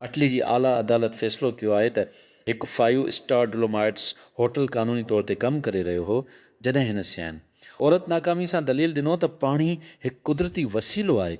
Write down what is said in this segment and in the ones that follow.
Italy جي اعليٰ عدالت فيصلو ڪيو آهي ته هڪ فائيو اسٽار ڊولومائيٽس هوٽل قانوني طور تي ڪم ڪري رهيو هو جڏهن هن سيان عورت ناڪامي سان دليل ڏنو ته پاڻي هڪ قدرتي وسيلو آهي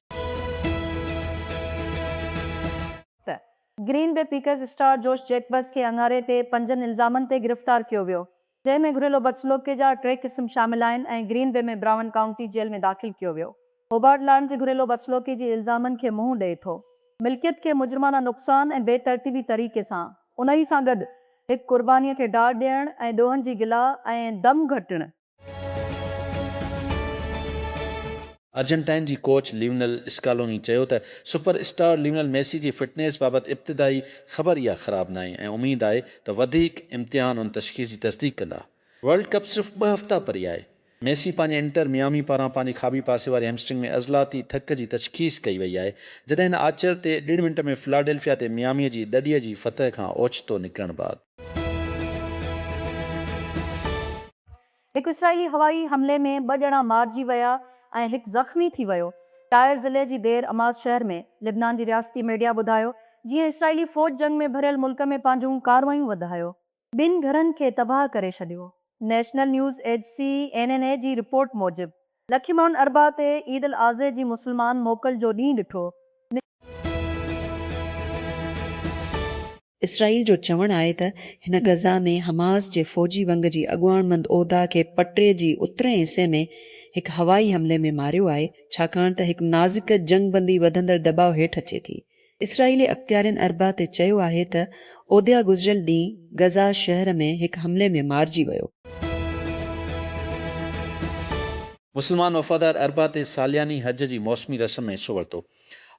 ته گرين بي پيڪرز اسٽار جوش جيڪبز کي اڱاري تي پنجن الزامن تي گرفتار ڪيو ويو، جنهن ۾ گهريلو بدسلوڪي جا ٽي قسم شامل آهن ۽ Green Bay ۾ Brown County jail ۾ داخل ڪيو ويو. هوبارٽ لائن جي گهريلو بدسلوڪي جي الزامن کي منهن ڏئي ٿو، ملڪيت کي مجرمانه نقصان ۽ بي ترتيبي طريقي سان، انهي سان گڏ هڪ قرباني کي ڊاڙ ڏيڻ ۽ ڏوهن جي گلا ۽ دم گهٽڻ، ارجنٽائن جي ڪوچ ليونل اسڪالوني چيو ته سپر اسٽار ليونل ميسي جي فٽنيس بابت ابتدائي خبر اها خراب ناهي ۽ اميد آهي ته وڌيڪ امتحان ان تشخيص جي تصديق ڪندا. ورلڊ ڪپ صرف ٻه هفتا پري آهي. ميسي پنهنجي انٽر ميامي پاران پنهنجي کاٻي پاسي واري هيمسٽرنگ ۾ عضلاتي ٿڪ جي تشخيص ڪئي وئي آهي، جڏهن هن آچر تي ڏيڍ منٽ ۾ فلاڊيلفيا تي ميامي جي دڙي جي فتح کان اوچتو نڪرڻ بعد. هڪ اسرائيلي هوائي حملي ۾ ٻه ڄڻا مارجي ويا ۽ هڪ زخمي ٿي ويو، ٽائر ضلعي جي دير اماز شهر ۾ لبنان جي رياستي ميڊيا ٻڌايو، جيئن اسرائيلي فوج جنگ ۾ ڀريل ملڪ ۾ پنهنجون ڪارروايون وڌايو. ٻن گهرن کي تباهه ڪري ڇڏيو. نيشنل نيوز ايجسي، اين اين اي، جي رپورٽ موجب لکين ماڻهن اربع تي عيد الاضحي جي مسلمان موڪل جو ڏينهن ڏٺو. اسرائيل جو چوڻ آهي ته هن غزه ۾ حماس جي فوجي ونگ جي اڳواڻ مند اودا کي پٽي جي اترئين حصي ۾ هڪ هوائي حملي ۾ ماريو آهي، ڇاڪاڻ ته هڪ نازڪ جنگ بندي وڌندڙ دٻاء هيٺ اچي ٿي. اسرائيلي اختيارين اربع تي چيو آهي ته اودا گذريل ڏينهن غزه شهر ۾ هڪ حملي ۾ مارجي ويو. مسلمان وفادار اربع تي سالياني حج جي موسمي رسم ۾ حصو ورتو.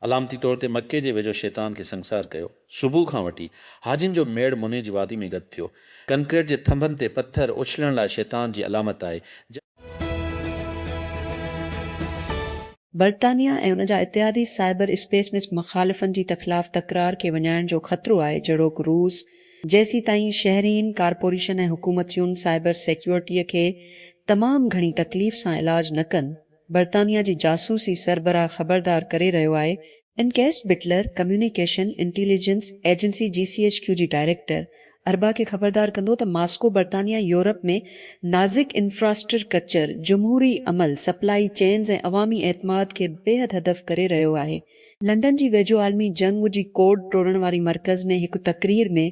علامتي طور تي مڪي جي ويجهو شيطان کي سنگسار ڪيو. صبح کان وٺي حاجين جو ميڙ مني جي وادي ۾ گڏ ٿيو. ڪنڪريٽ جي ٿنڀن تي پٿر اڇلڻ لاء شيطان جي علامت آهي. برطانيا ۽ ان جا اتحادي سائبر اسپيس مس مخالفن جي تخلاف تڪرار کي وڃائڻ جو خطرو آهي جهڙوڪ روس جيسيتائين شهرين ڪارپوريشن ۽ حڪومتيون سائبر سيڪيورٽيء کي تمام گهڻي تڪليف سان علاج نه ڪن برطانيا جي جاسوسي سربراهه خبردار ڪري رهيو آهي ان ڪيس Butler communication intelligence agency G C H Q جي ڊائريڪٽر اربا کي خبردار ڪندو ته ماسڪو برطانيا يورپ ۾ نازڪ انفراسٽرڪچر جمهوري عمل سپلائي چينز ۽ عوامي اعتماد کي بيحد هدف ڪري رهيو آهي لنڊن جي ويجهو عالمي جنگ جي ڪوڊ ٽوڙڻ واري مرڪز ۾ هڪ تقرير ۾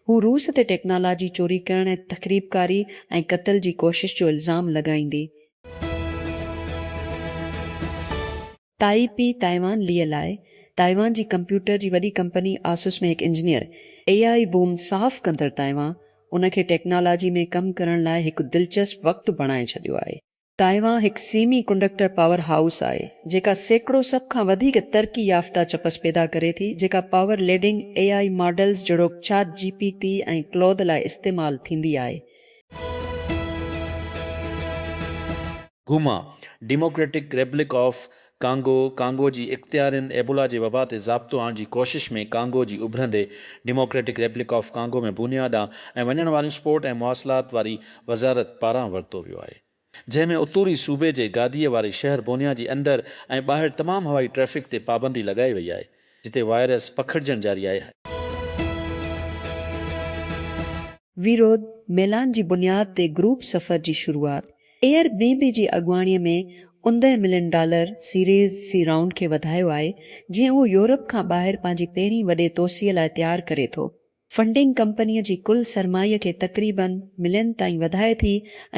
هو روس تي ٽيڪنالاجي چوري ڪرڻ ۽ تخريبڪاري ۽ قتل جي ڪوشش جو الزام لڳائيندي تائي پي تائيوان ليء لاء تائيوان جي ڪمپيوٽر جي وڏي ڪمپني آسوس ۾ هڪ انجنيئر اي آئي بوم صاف ڪندڙ تائيوان ان کي ٽيڪنالاجي ۾ ڪم ڪرڻ لاء هڪ دلچسپ وقت بڻائي ڇڏيو آهي. تائيوان هڪ سيمي ڪنڊڪٽر پاور هائوس آهي جيڪا سيڪڙو سڀ کان وڌيڪ ترقي يافته چپس پيدا ڪري ٿي جيڪا power leading A I models جهڙوڪ چاٽ جي پي تي ۽ ڪلوڌ لاء استعمال ٿيندي آهي Goma, Democratic Republic of Congo, Congo جي اختيارين ايبولا جي وبا تي ضابطو آڻڻ جي ڪوشش ۾ ڪانگو جي اڀرندي Democratic Republic of Congo ۾ Bunia ڏانهن ۽ وڃڻ واريون سپورٽ ۽ مواصلات واري وزارت پاران ورتو ويو آهي. جنهن ۾ اتوري صوبي جي گاديء واري شهر بونيا جي اندر ۽ ٻاهر تمام هوائي ٽريفڪ تي پابندي لڳائي وئي آهي، جتي وائرس پکڙجڻ جاري آهي. ويرود ميلان جي بنياد تي گروپ سفر جي شروعات، ايئر بي بي جي اڳواڻي ۾ اوندهه million dollar series C round کي وڌايو آهي جيئن اهو يورپ کان ٻاهر پنهنجي پهرين وڏي توسيع لاء تيار ڪري ٿو. فنڊنگ ڪمپنيء جي ڪل سرمايي کي تقريبن ملين تائين وڌائي ٿي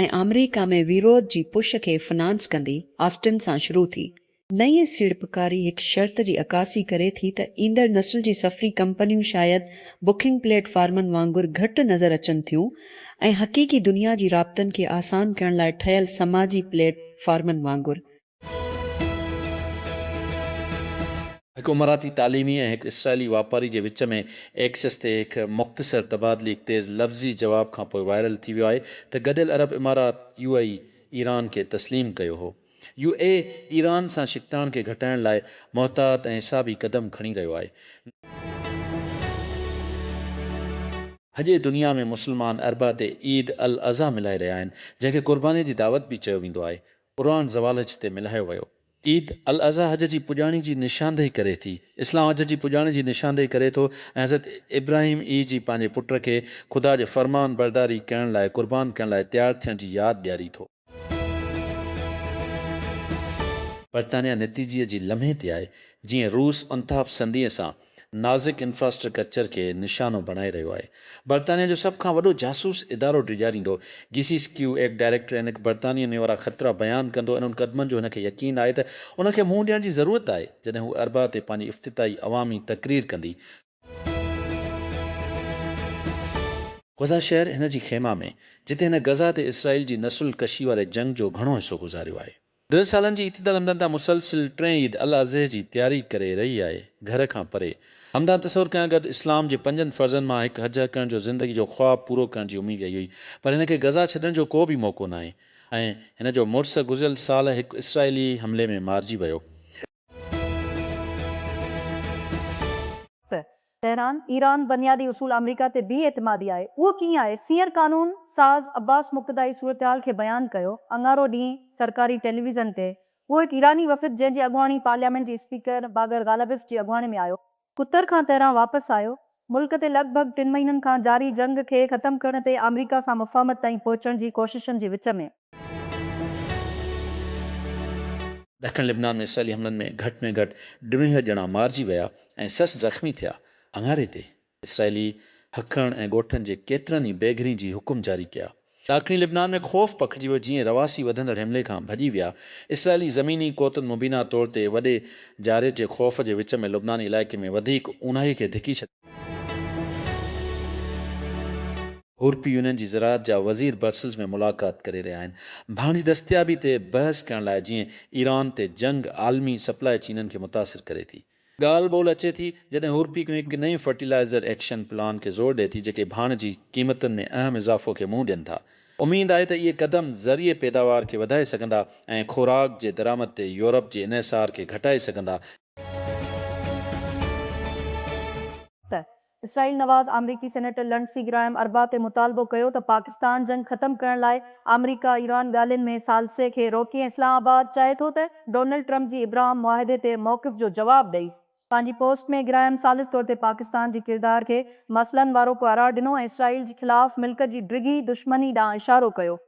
۽ آمريڪا ۾ ويروڌ جي پش کي فنانس ڪندي آسٽن سان شروع ٿي. نئين سيڙپڪاري هڪ شرط جي عڪاسي ڪري ٿي ته ايندڙ نسل جي سفري ڪمپنيون شايد بڪنگ پليٽ فارمن وانگر گهٽ نظر اچن ٿيون ۽ حقيقي دنيا جي رابطن کي آسان ڪرڻ لاء ٺهيل سماجي پليٽ فارمن وانگر هڪ اماراتي تعليمي ۽ هڪ اسرائيلي واپاري جي وچ ۾ ايڪسس تي هڪ مختصر تبادلي هڪ تيز لفظي جواب کان پوء وائرل ٿي ويو آهي ته گڏيل عرب امارات، يو اي اي، ايران کي تسليم ڪيو هو. يو اي اي ايران سان ڇڪتاڻ کي گهٽائڻ لاء محتاط ۽ حسابي قدم کڻي رهيو آهي. هجي دنيا ۾ مسلمان اربع تي عيد الاضحيٰ ملهائي رهيا آهن جنهن کي قرباني جي دعوت به چيو ويندو آهي. قرآن زوالحج تي ملهايو ويو. عيد الاضحيٰ حج جي پڄاڻي جي نشاندهي ڪري ٿي. اسلام حج جي پڄاڻي جي نشاندهي ڪري ٿو ۽ حضرت ابراهيم اي جي پنهنجي پٽ کي خدا جي فرمان برداري ڪرڻ لاء قربان ڪرڻ لاء تيار ٿيڻ جي ياد ڏياري ٿو. برطانيا نتيجي جي لمحي تي آهي، جيئن روس انتهاپسنديء سان نازڪ انفراسٽرڪچر کي نشانو بڻائي رهيو آهي. برطانيا جو سڀ کان وڏو جاسوس ادارو ڊيڄاريندو، جي سيس ڪيو ايڪ ڊائريڪٽر انڪ برطانيا ۾ وارا خطرا بيان ڪندو ۽ انهن قدمن جو هن کي يقين آهي ته انهن کي منهن ڏيڻ جي ضرورت آهي جڏهن هو اربع تي پنهنجي افتتاحي عوامي تقرير ڪندي. غزه شهر هن جي خيما ۾، جتي هن غزه تي اسرائيل جي نسل ڪشي واري جنگ جو گهڻو حصو گذاريو آهي. ڏهه سالن جي اعتدال همدان تان مسلسل ٽين عيد الاضحي جي تياري ڪري رهي آهي. گهر کان پري. همدان تصور ڪيان گڏ اسلام جي پنجن فرضن مان هڪ حج ڪرڻ جو زندگي جو خواب پورو ڪرڻ جي اميد ڪئي هئي پر هن کي غزا ڇڏڻ جو ڪو به موقعو ناهي ۽ هن جو مڙس گذريل سال هڪ اسرائيلي حملي ۾ مارجي ويو. تهران، ايران بنيادي اصول آمريڪا تي بي اعتمادي آهي، اهو ڪيئن آهي؟ سينئر قانون ساز عباس مقتدائي صورتحال کي بيان ڪيو اڱارو ڏينهن سرڪاري ٽيليويزن تي اهو هڪ ايراني وفد جنهن جي اڳواڻي پارليامينٽ جي اسپيڪر باقر غالبف جي اڳواڻي ۾ آيو قطر کان تهران واپس آيو. ملڪ تي لڳ ڀڳ ٽن مهينن کان جاري جنگ کي ختم ڪرڻ تي آمريڪا سان مفاهمت تائين پهچڻ جي ڪوششن جي وچ ۾، ڏکڻ لبنان ۾ اسرائيلي حملن ۾ گهٽ ۾ گهٽ ٽيونهيهه ڄڻا مارجي ويا ۽ سخت زخمي ٿيا، اڱاري تي اسرائيلي هڪڻ ۽ ڳوٺن جي ڪيترن ئي بي گهرين جي حڪم جاري ڪيا. ڏاکڻي لبنان ۾ خوف پکڙجي ويو جيئن رھواسي وڌندڙ حملي کان ڀڄي ويا، اسرائيلي زميني قوتن مبينا طور تي وڏي جارحيتي خوف جي وچ ۾ لبناني علائقي ۾ وڌيڪ اونھائي کي ڌڪي ڇڏيو. يورپي يونين جي زراعت جا وزير برسلز ۾ ملاقات ڪري رھيا آھن ڀاڻ جي دستيابي تي بحث ڪرڻ لاء جيئن ايران تي جنگ عالمي سپلاء چينن کي متاثر ڪري ٿي. ڳالهه ٻولهه اچي ٿي جڏهن هورپيڪ ۾ هڪ نئين فرٽيلائيزر ايڪشن پلان کي زور ڏئي ٿي جيڪي ڀاڻ جي قيمتن ۾ اهم اضافو کي منهن ڏين ٿا. اميد آهي ته اهي قدم زرعي پيداوار کي وڌائي سگهندا ۽ خوراڪ جي درآمد تي يورپ جي انحصار کي گهٽائي سگهندا. ته اسرائيل نواز آمريڪي سينيٽر لنڊسي گرائم اربع تي مطالبو ڪيو ته پاڪستان جنگ ختم ڪرڻ لاء آمريڪا ايران ڳالهين ۾ ثالثي کي روڪي ۽ اسلام آباد چاهي ٿو ته ڊونلڊ ٽرمپ جي ابراهام معاهدي تي موقف جو جواب ڏئي. پنهنجي پوسٽ ۾ گرائم ثالث طور تي پاڪستان جي ڪردار کي مسئلن وارو قارار ڏنو ۽ اسرائيل جي خلاف ملڪ جي ڊگهي دشمني ڏانهن اشارو ڪيو.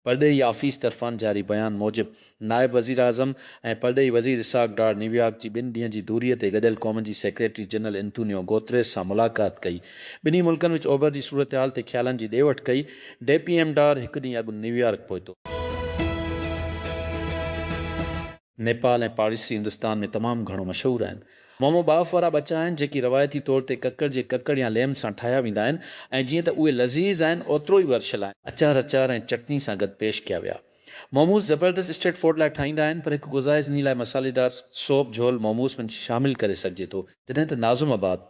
پرڏيهي آفيس طرفان جاري بيان موجب نائب وزيراعظم ۽ پرڏيهي وزير اسحاق ڊار نيويارڪ جي ٻن ڏينهن جي دوري تي گڏيل قومن جي سيڪريٽري جنرل انتونيو گوتريس سان ملاقات ڪئي ٻنهي ملڪن وچ اوڀر جي صورتحال تي خيالن جي ڏي وٺ ڪئي ڊي پي ايم ڊار هڪ ڏينهن اڳ نيويارڪ پهتو. نيپال ۽ پاڙيسري هندستان ۾ تمام گهڻو مشهور آهن. مومو ٻاڦ وارا ٻچا آهن، جيڪي روايتي طور تي ڪڪڙ جي ڪڪڙ يا ليم سان ٺاهيا ويندا آهن ۽ جيئن ته اهي لذيذ آهن، اوترو ئي ورشل آهن. اچار اچار ۽ چٽني سان گڏ پيش ڪيا ويا. موموز زبردست اسٽريٽ فوڊ لاء ٺاهيندا آهن، پر هڪ گذائش انهي لاء مصالحيدار سوپ جهول موموز ۾ شامل ڪري سگهجي ٿو، جڏهن ته ناظم آباد،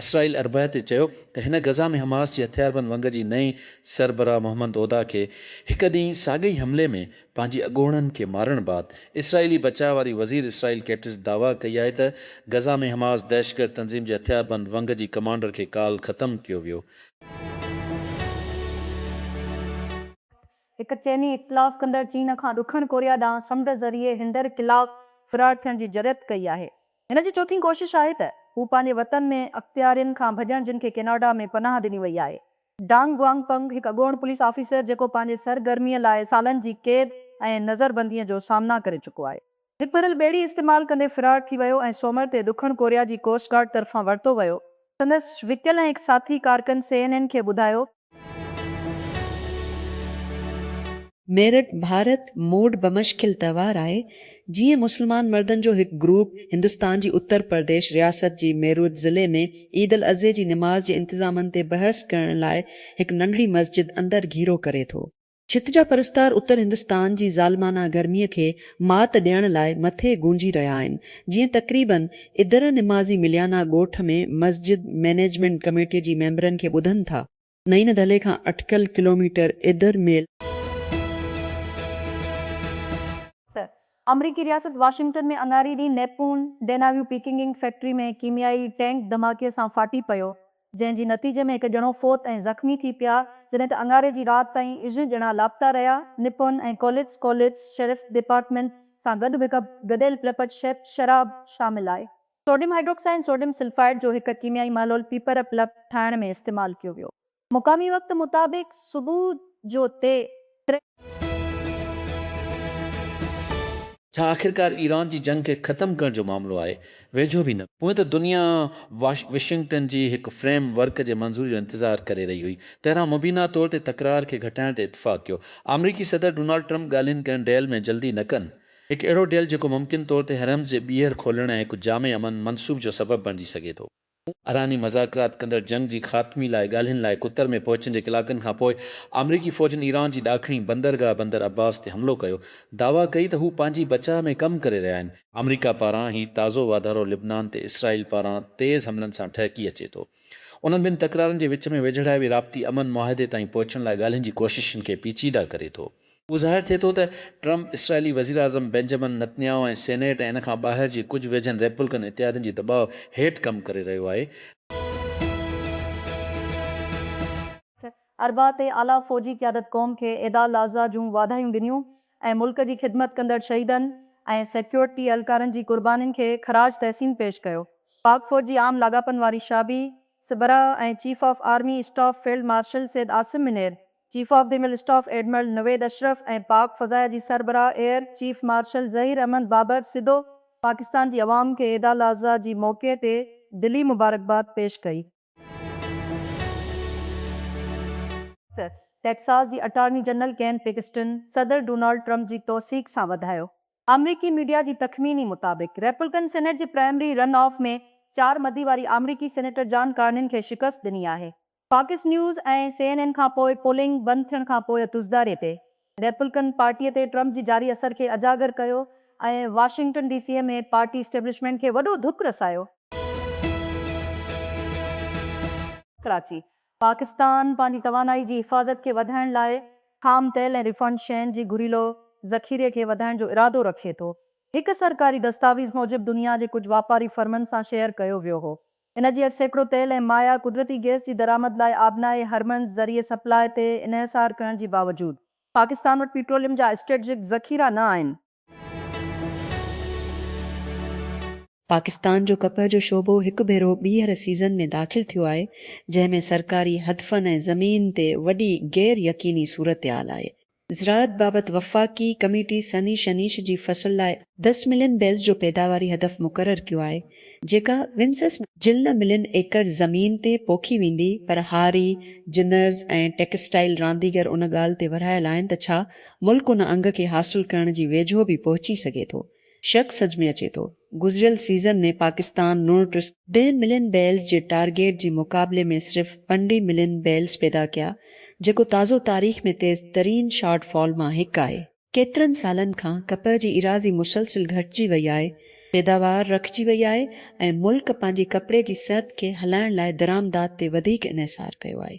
اسرائيل اربع تي چيو ته هن غزه ۾ حماس جي هٿياربند ونگ جي نئين سربراهه محمد اودا کي هڪ ڏينهن ساڳئي حملي ۾ پنهنجي اڳوڻن کي مارڻ بعد اسرائيلي بچاء واري وزير اسرائيل ڪيٽز دعويٰ ڪئي آهي ته غزه ۾ حماس دهشتگرد تنظيم جي هٿياربند ونگ جي ڪمانڊر کي ڪالهه ختم ڪيو ويو. هڪ چيني اختلاف ڪندڙ چين کان ڏکڻ ڪوريا ڏانهن سمنڊ ذريعي هنڊر خلاف فرار ٿيڻ جي جرئت ڪئي آهي. هن جي چوٿين ڪوشش آهي ته هو پنهنجي وطن ۾ اختيارين کان ڀڄڻ جن کي ڪيناڊا ۾ پناهه ڏني وئي آهي. ڊانگ گوانگ پنگ هڪ اڳوڻ پوليس آفيسر جيڪو پنهنجي سرگرمي لاء سالن جي قيد ۽ نظربنديء جو سامنا ڪري چڪو آهي. هڪ ڀريل ٻيڙي استعمال ڪندي فرار ٿي ويو ۽ سومر تي ڏکڻ ڪوريا جي ڪوسٽ گارڊ طرفان ورتو ويو. سندس وڪيل ۽ هڪ ساٿي ڪارڪن سي اين اين کي ٻڌايو. ميرٽ، ڀارت، موڊ بمشڪل تهوار آهي، جيئن مسلمان مردن جو هڪ گروپ هندستان جي اتر پرديش رياست جي ميروت ضلعي ۾ عيد الاضحي جي نماز جي انتظامن تي بحث ڪرڻ لاء هڪ ننڍڙي مسجد اندر گهيرو ڪري ٿو. ڇت جا پرستار اتر هندستان جي ظالمانه گرميء کي مات ڏيڻ لاء مٿي گونجي رهيا آهن، جيئن تقريباً ادر نمازي مليانا ڳوٺ ۾ مسجد مئنيجمينٽ ڪميٽيء جي ميمبرن کي ٻڌن ٿا. نئين دهلي کان اٽڪل ڪلوميٽر ادر ميل. ته آمريڪي رياست واشنگٽن ۾ اڱاري ڏينهن نيپون ڊيناويو پيڪنگ انڪ فيڪٽري ۾ ڪيميائي ٽينڪ ڌماڪي سان ڦاٽي پيو جنهن جي نتيجي ۾ هڪ ڄڻو فوت ۽ زخمي ٿي پيا، جڏهن ته اڱاري جي رات تائين اھه ڄڻا لاپتا رهيا. نپون ۽ ڪوليٽس، Kollitz، شيرف ڊپارٽمينٽ سان گڏ به هڪ گڏيل پلپٽ شيپ، شراب، شامل آهي. سوڊيم هائڊروڪسائڊ ۽ سوڊيم سلفائيڊ جو هڪ ڪيميائي محلول پيپر پلپ ٺاهڻ ۾ استعمال ڪيو ويو. مقامي وقت مطابق صبح جو تي ڇا آخرڪار ايران جي جنگ کي ختم ڪرڻ جو معاملو آهي؟ ويجهو به نه. هونئن ته دنيا واشنگٽن جي هڪ فريم ورڪ جي منظوري جو انتظار ڪري رهي هئي. تهران مبينا طور تي تڪرار کي گهٽائڻ تي اتفاق ڪيو. آمريڪي صدر ڊونالڊ ٽرمپ ڳالهين ڪن ڊيل ۾ جلدي نه ڪن. هڪ اهڙو ڊيل جيڪو ممڪن طور تي حرمز جي ٻيهر کولڻ ۽ هڪ جامع امن منصوب جو سبب بڻجي سگهي ٿو. ايراني مذاڪرات ڪندڙ جنگ جي خاتمي لاء ڳالهين لاء قطر ۾ پهچڻ جي ڪلاڪن کان پوء آمريڪي فوجن ايران جي ڏاکڻي بندرگاهه بندر عباس تي حملو ڪيو، دعويٰ ڪئي ته هو پنهنجي بچاء ۾ ڪم ڪري رهيا آهن. آمريڪا پاران هي تازو واڌارو لبنان تي اسرائيل پاران تيز حملن سان ٺهڪي اچي ٿو. انهن ٻن تڪرارن جي وچ ۾ ويجهڙائي وي رابطي امن معاهدي تائين پهچڻ لاء ڳالهين جي ڪوششن کي پيچيده ڪري ٿو. اهو ظاهر ٿئي ٿو ته ٽرمپ اسرائيلي وزيراعظم بينجمن نتنياهو ۽ سينيٽ ۽ ان کان ٻاهر جي ڪجهه ويجهن ريپبلڪن اتحادين جي دٻاء هيٺ ڪم ڪري رهيو آهي. اربع تي اعليٰ فوجي قيادت قوم کي عيد الاضحيٰ جون واڌايون ڏنيون ۽ ملڪ جي خدمت ڪندڙ شهيدن ۽ سيڪيورٽي اهلڪارن جي قربانين کي خراج تحسين پيش ڪيو. پاڪ فوج جي عام لاڳاپن واري شعبي سربراهه ۽ chief of army staff field marshal Syed Asim Munir, chief of the مل اسٽاف ايڊمرل نويد اشرف ۽ پاڪ فضائيه جي سربراهه air chief marshal Zaheer Ahmed Babar سڌو پاڪستان جي عوام کي عيد الاضحيٰ جي موقعي تي دلي مبارڪباد پيش ڪئي. ٽيڪساس جي اٽارني جنرل ڪين پيڪسٽن صدر ڊونالڊ ٽرمپ جي توثيق سان وڌايو. آمريڪي ميڊيا جي تخميني مطابق ريپلڪن سينيٽ جي پرائمري رن آف ۾ چار مدي واري آمريڪي سينيٽر جان ڪارنين کي شڪست ڏني آهي. Fox News ۽ C N N کان پوء پولنگ بند ٿيڻ کان پوء تزداري تي ريپلڪن پارٽي تي ٽرمپ جي جاري اثر کي اجاگر ڪيو ۽ Washington D C ۾ party establishment کي وڏو ڌڪ رسايو. ڪراچي، پاڪستان پنهنجي توانائي جي حفاظت کي وڌائڻ لاء خام تيل ۽ ريفائنڊ شين جي گهريلو ذخيري کي وڌائڻ جو ارادو رکي ٿو. هڪ سرڪاري دستاويز موجب دنيا جي ڪجهه واپاري فرمن سان شيئر ڪيو ويو هو ان جي هيٺ سيڪڙو تيل ۽ مايا قدرتي گئس جي درآمد لاء آبنائي هرمنز ذريعي سپلاء تي انحصار ڪرڻ جي باوجود پاڪستان وٽ پيٽروليم جا اسٽريٽجڪ ذخيرا نه آهن. پاڪستان جو ڪپهه جو شعبو هڪ ڀيرو ٻيهر سيزن ۾ داخل ٿيو آهي، جنهن ۾ سرڪاري هدفن ۽ زمين تي وڏي غير يقيني صورتحال آهي. زراعت بابت وفاقي ڪميٽي سني شنيش جي فصل لاء دس ملين بيلز جو پيداواري هدف مقرر ڪيو آهي، جيڪا ونسس ۾ جلن ملين ايڪڙ زمين تي پوکي ويندي پر هاري، جنرز ۽ ٽيڪسٽائيل رانديگر ان ڳالهه تي ورهايل آهن ته ڇا ملڪ ان انگ کي حاصل ڪرڻ جي ويجهو به پهچي سگهي ٿو. شڪ سج ۾ اچي ٿو. گذريل سيزن ۾ پاڪستان نو ٽي سؤ ڏهه ملين بيلز جي ٽارگيٽ جي مقابلي ۾ صرف پنڊهين ملين بيلز پيدا ڪيا جيڪو تازو تاريخ ۾ تيز ترين شارٽ فال مان هڪ آهي. ڪيترن سالن کان ڪپهه جي ايراضي مسلسل گهٽجي وئي آهي، پيداوار رکجي وئي آهي ۽ ملڪ پنهنجي ڪپڙي جي صحت کي هلائڻ لاء درآمدات تي وڌيڪ انحصار ڪيو آهي.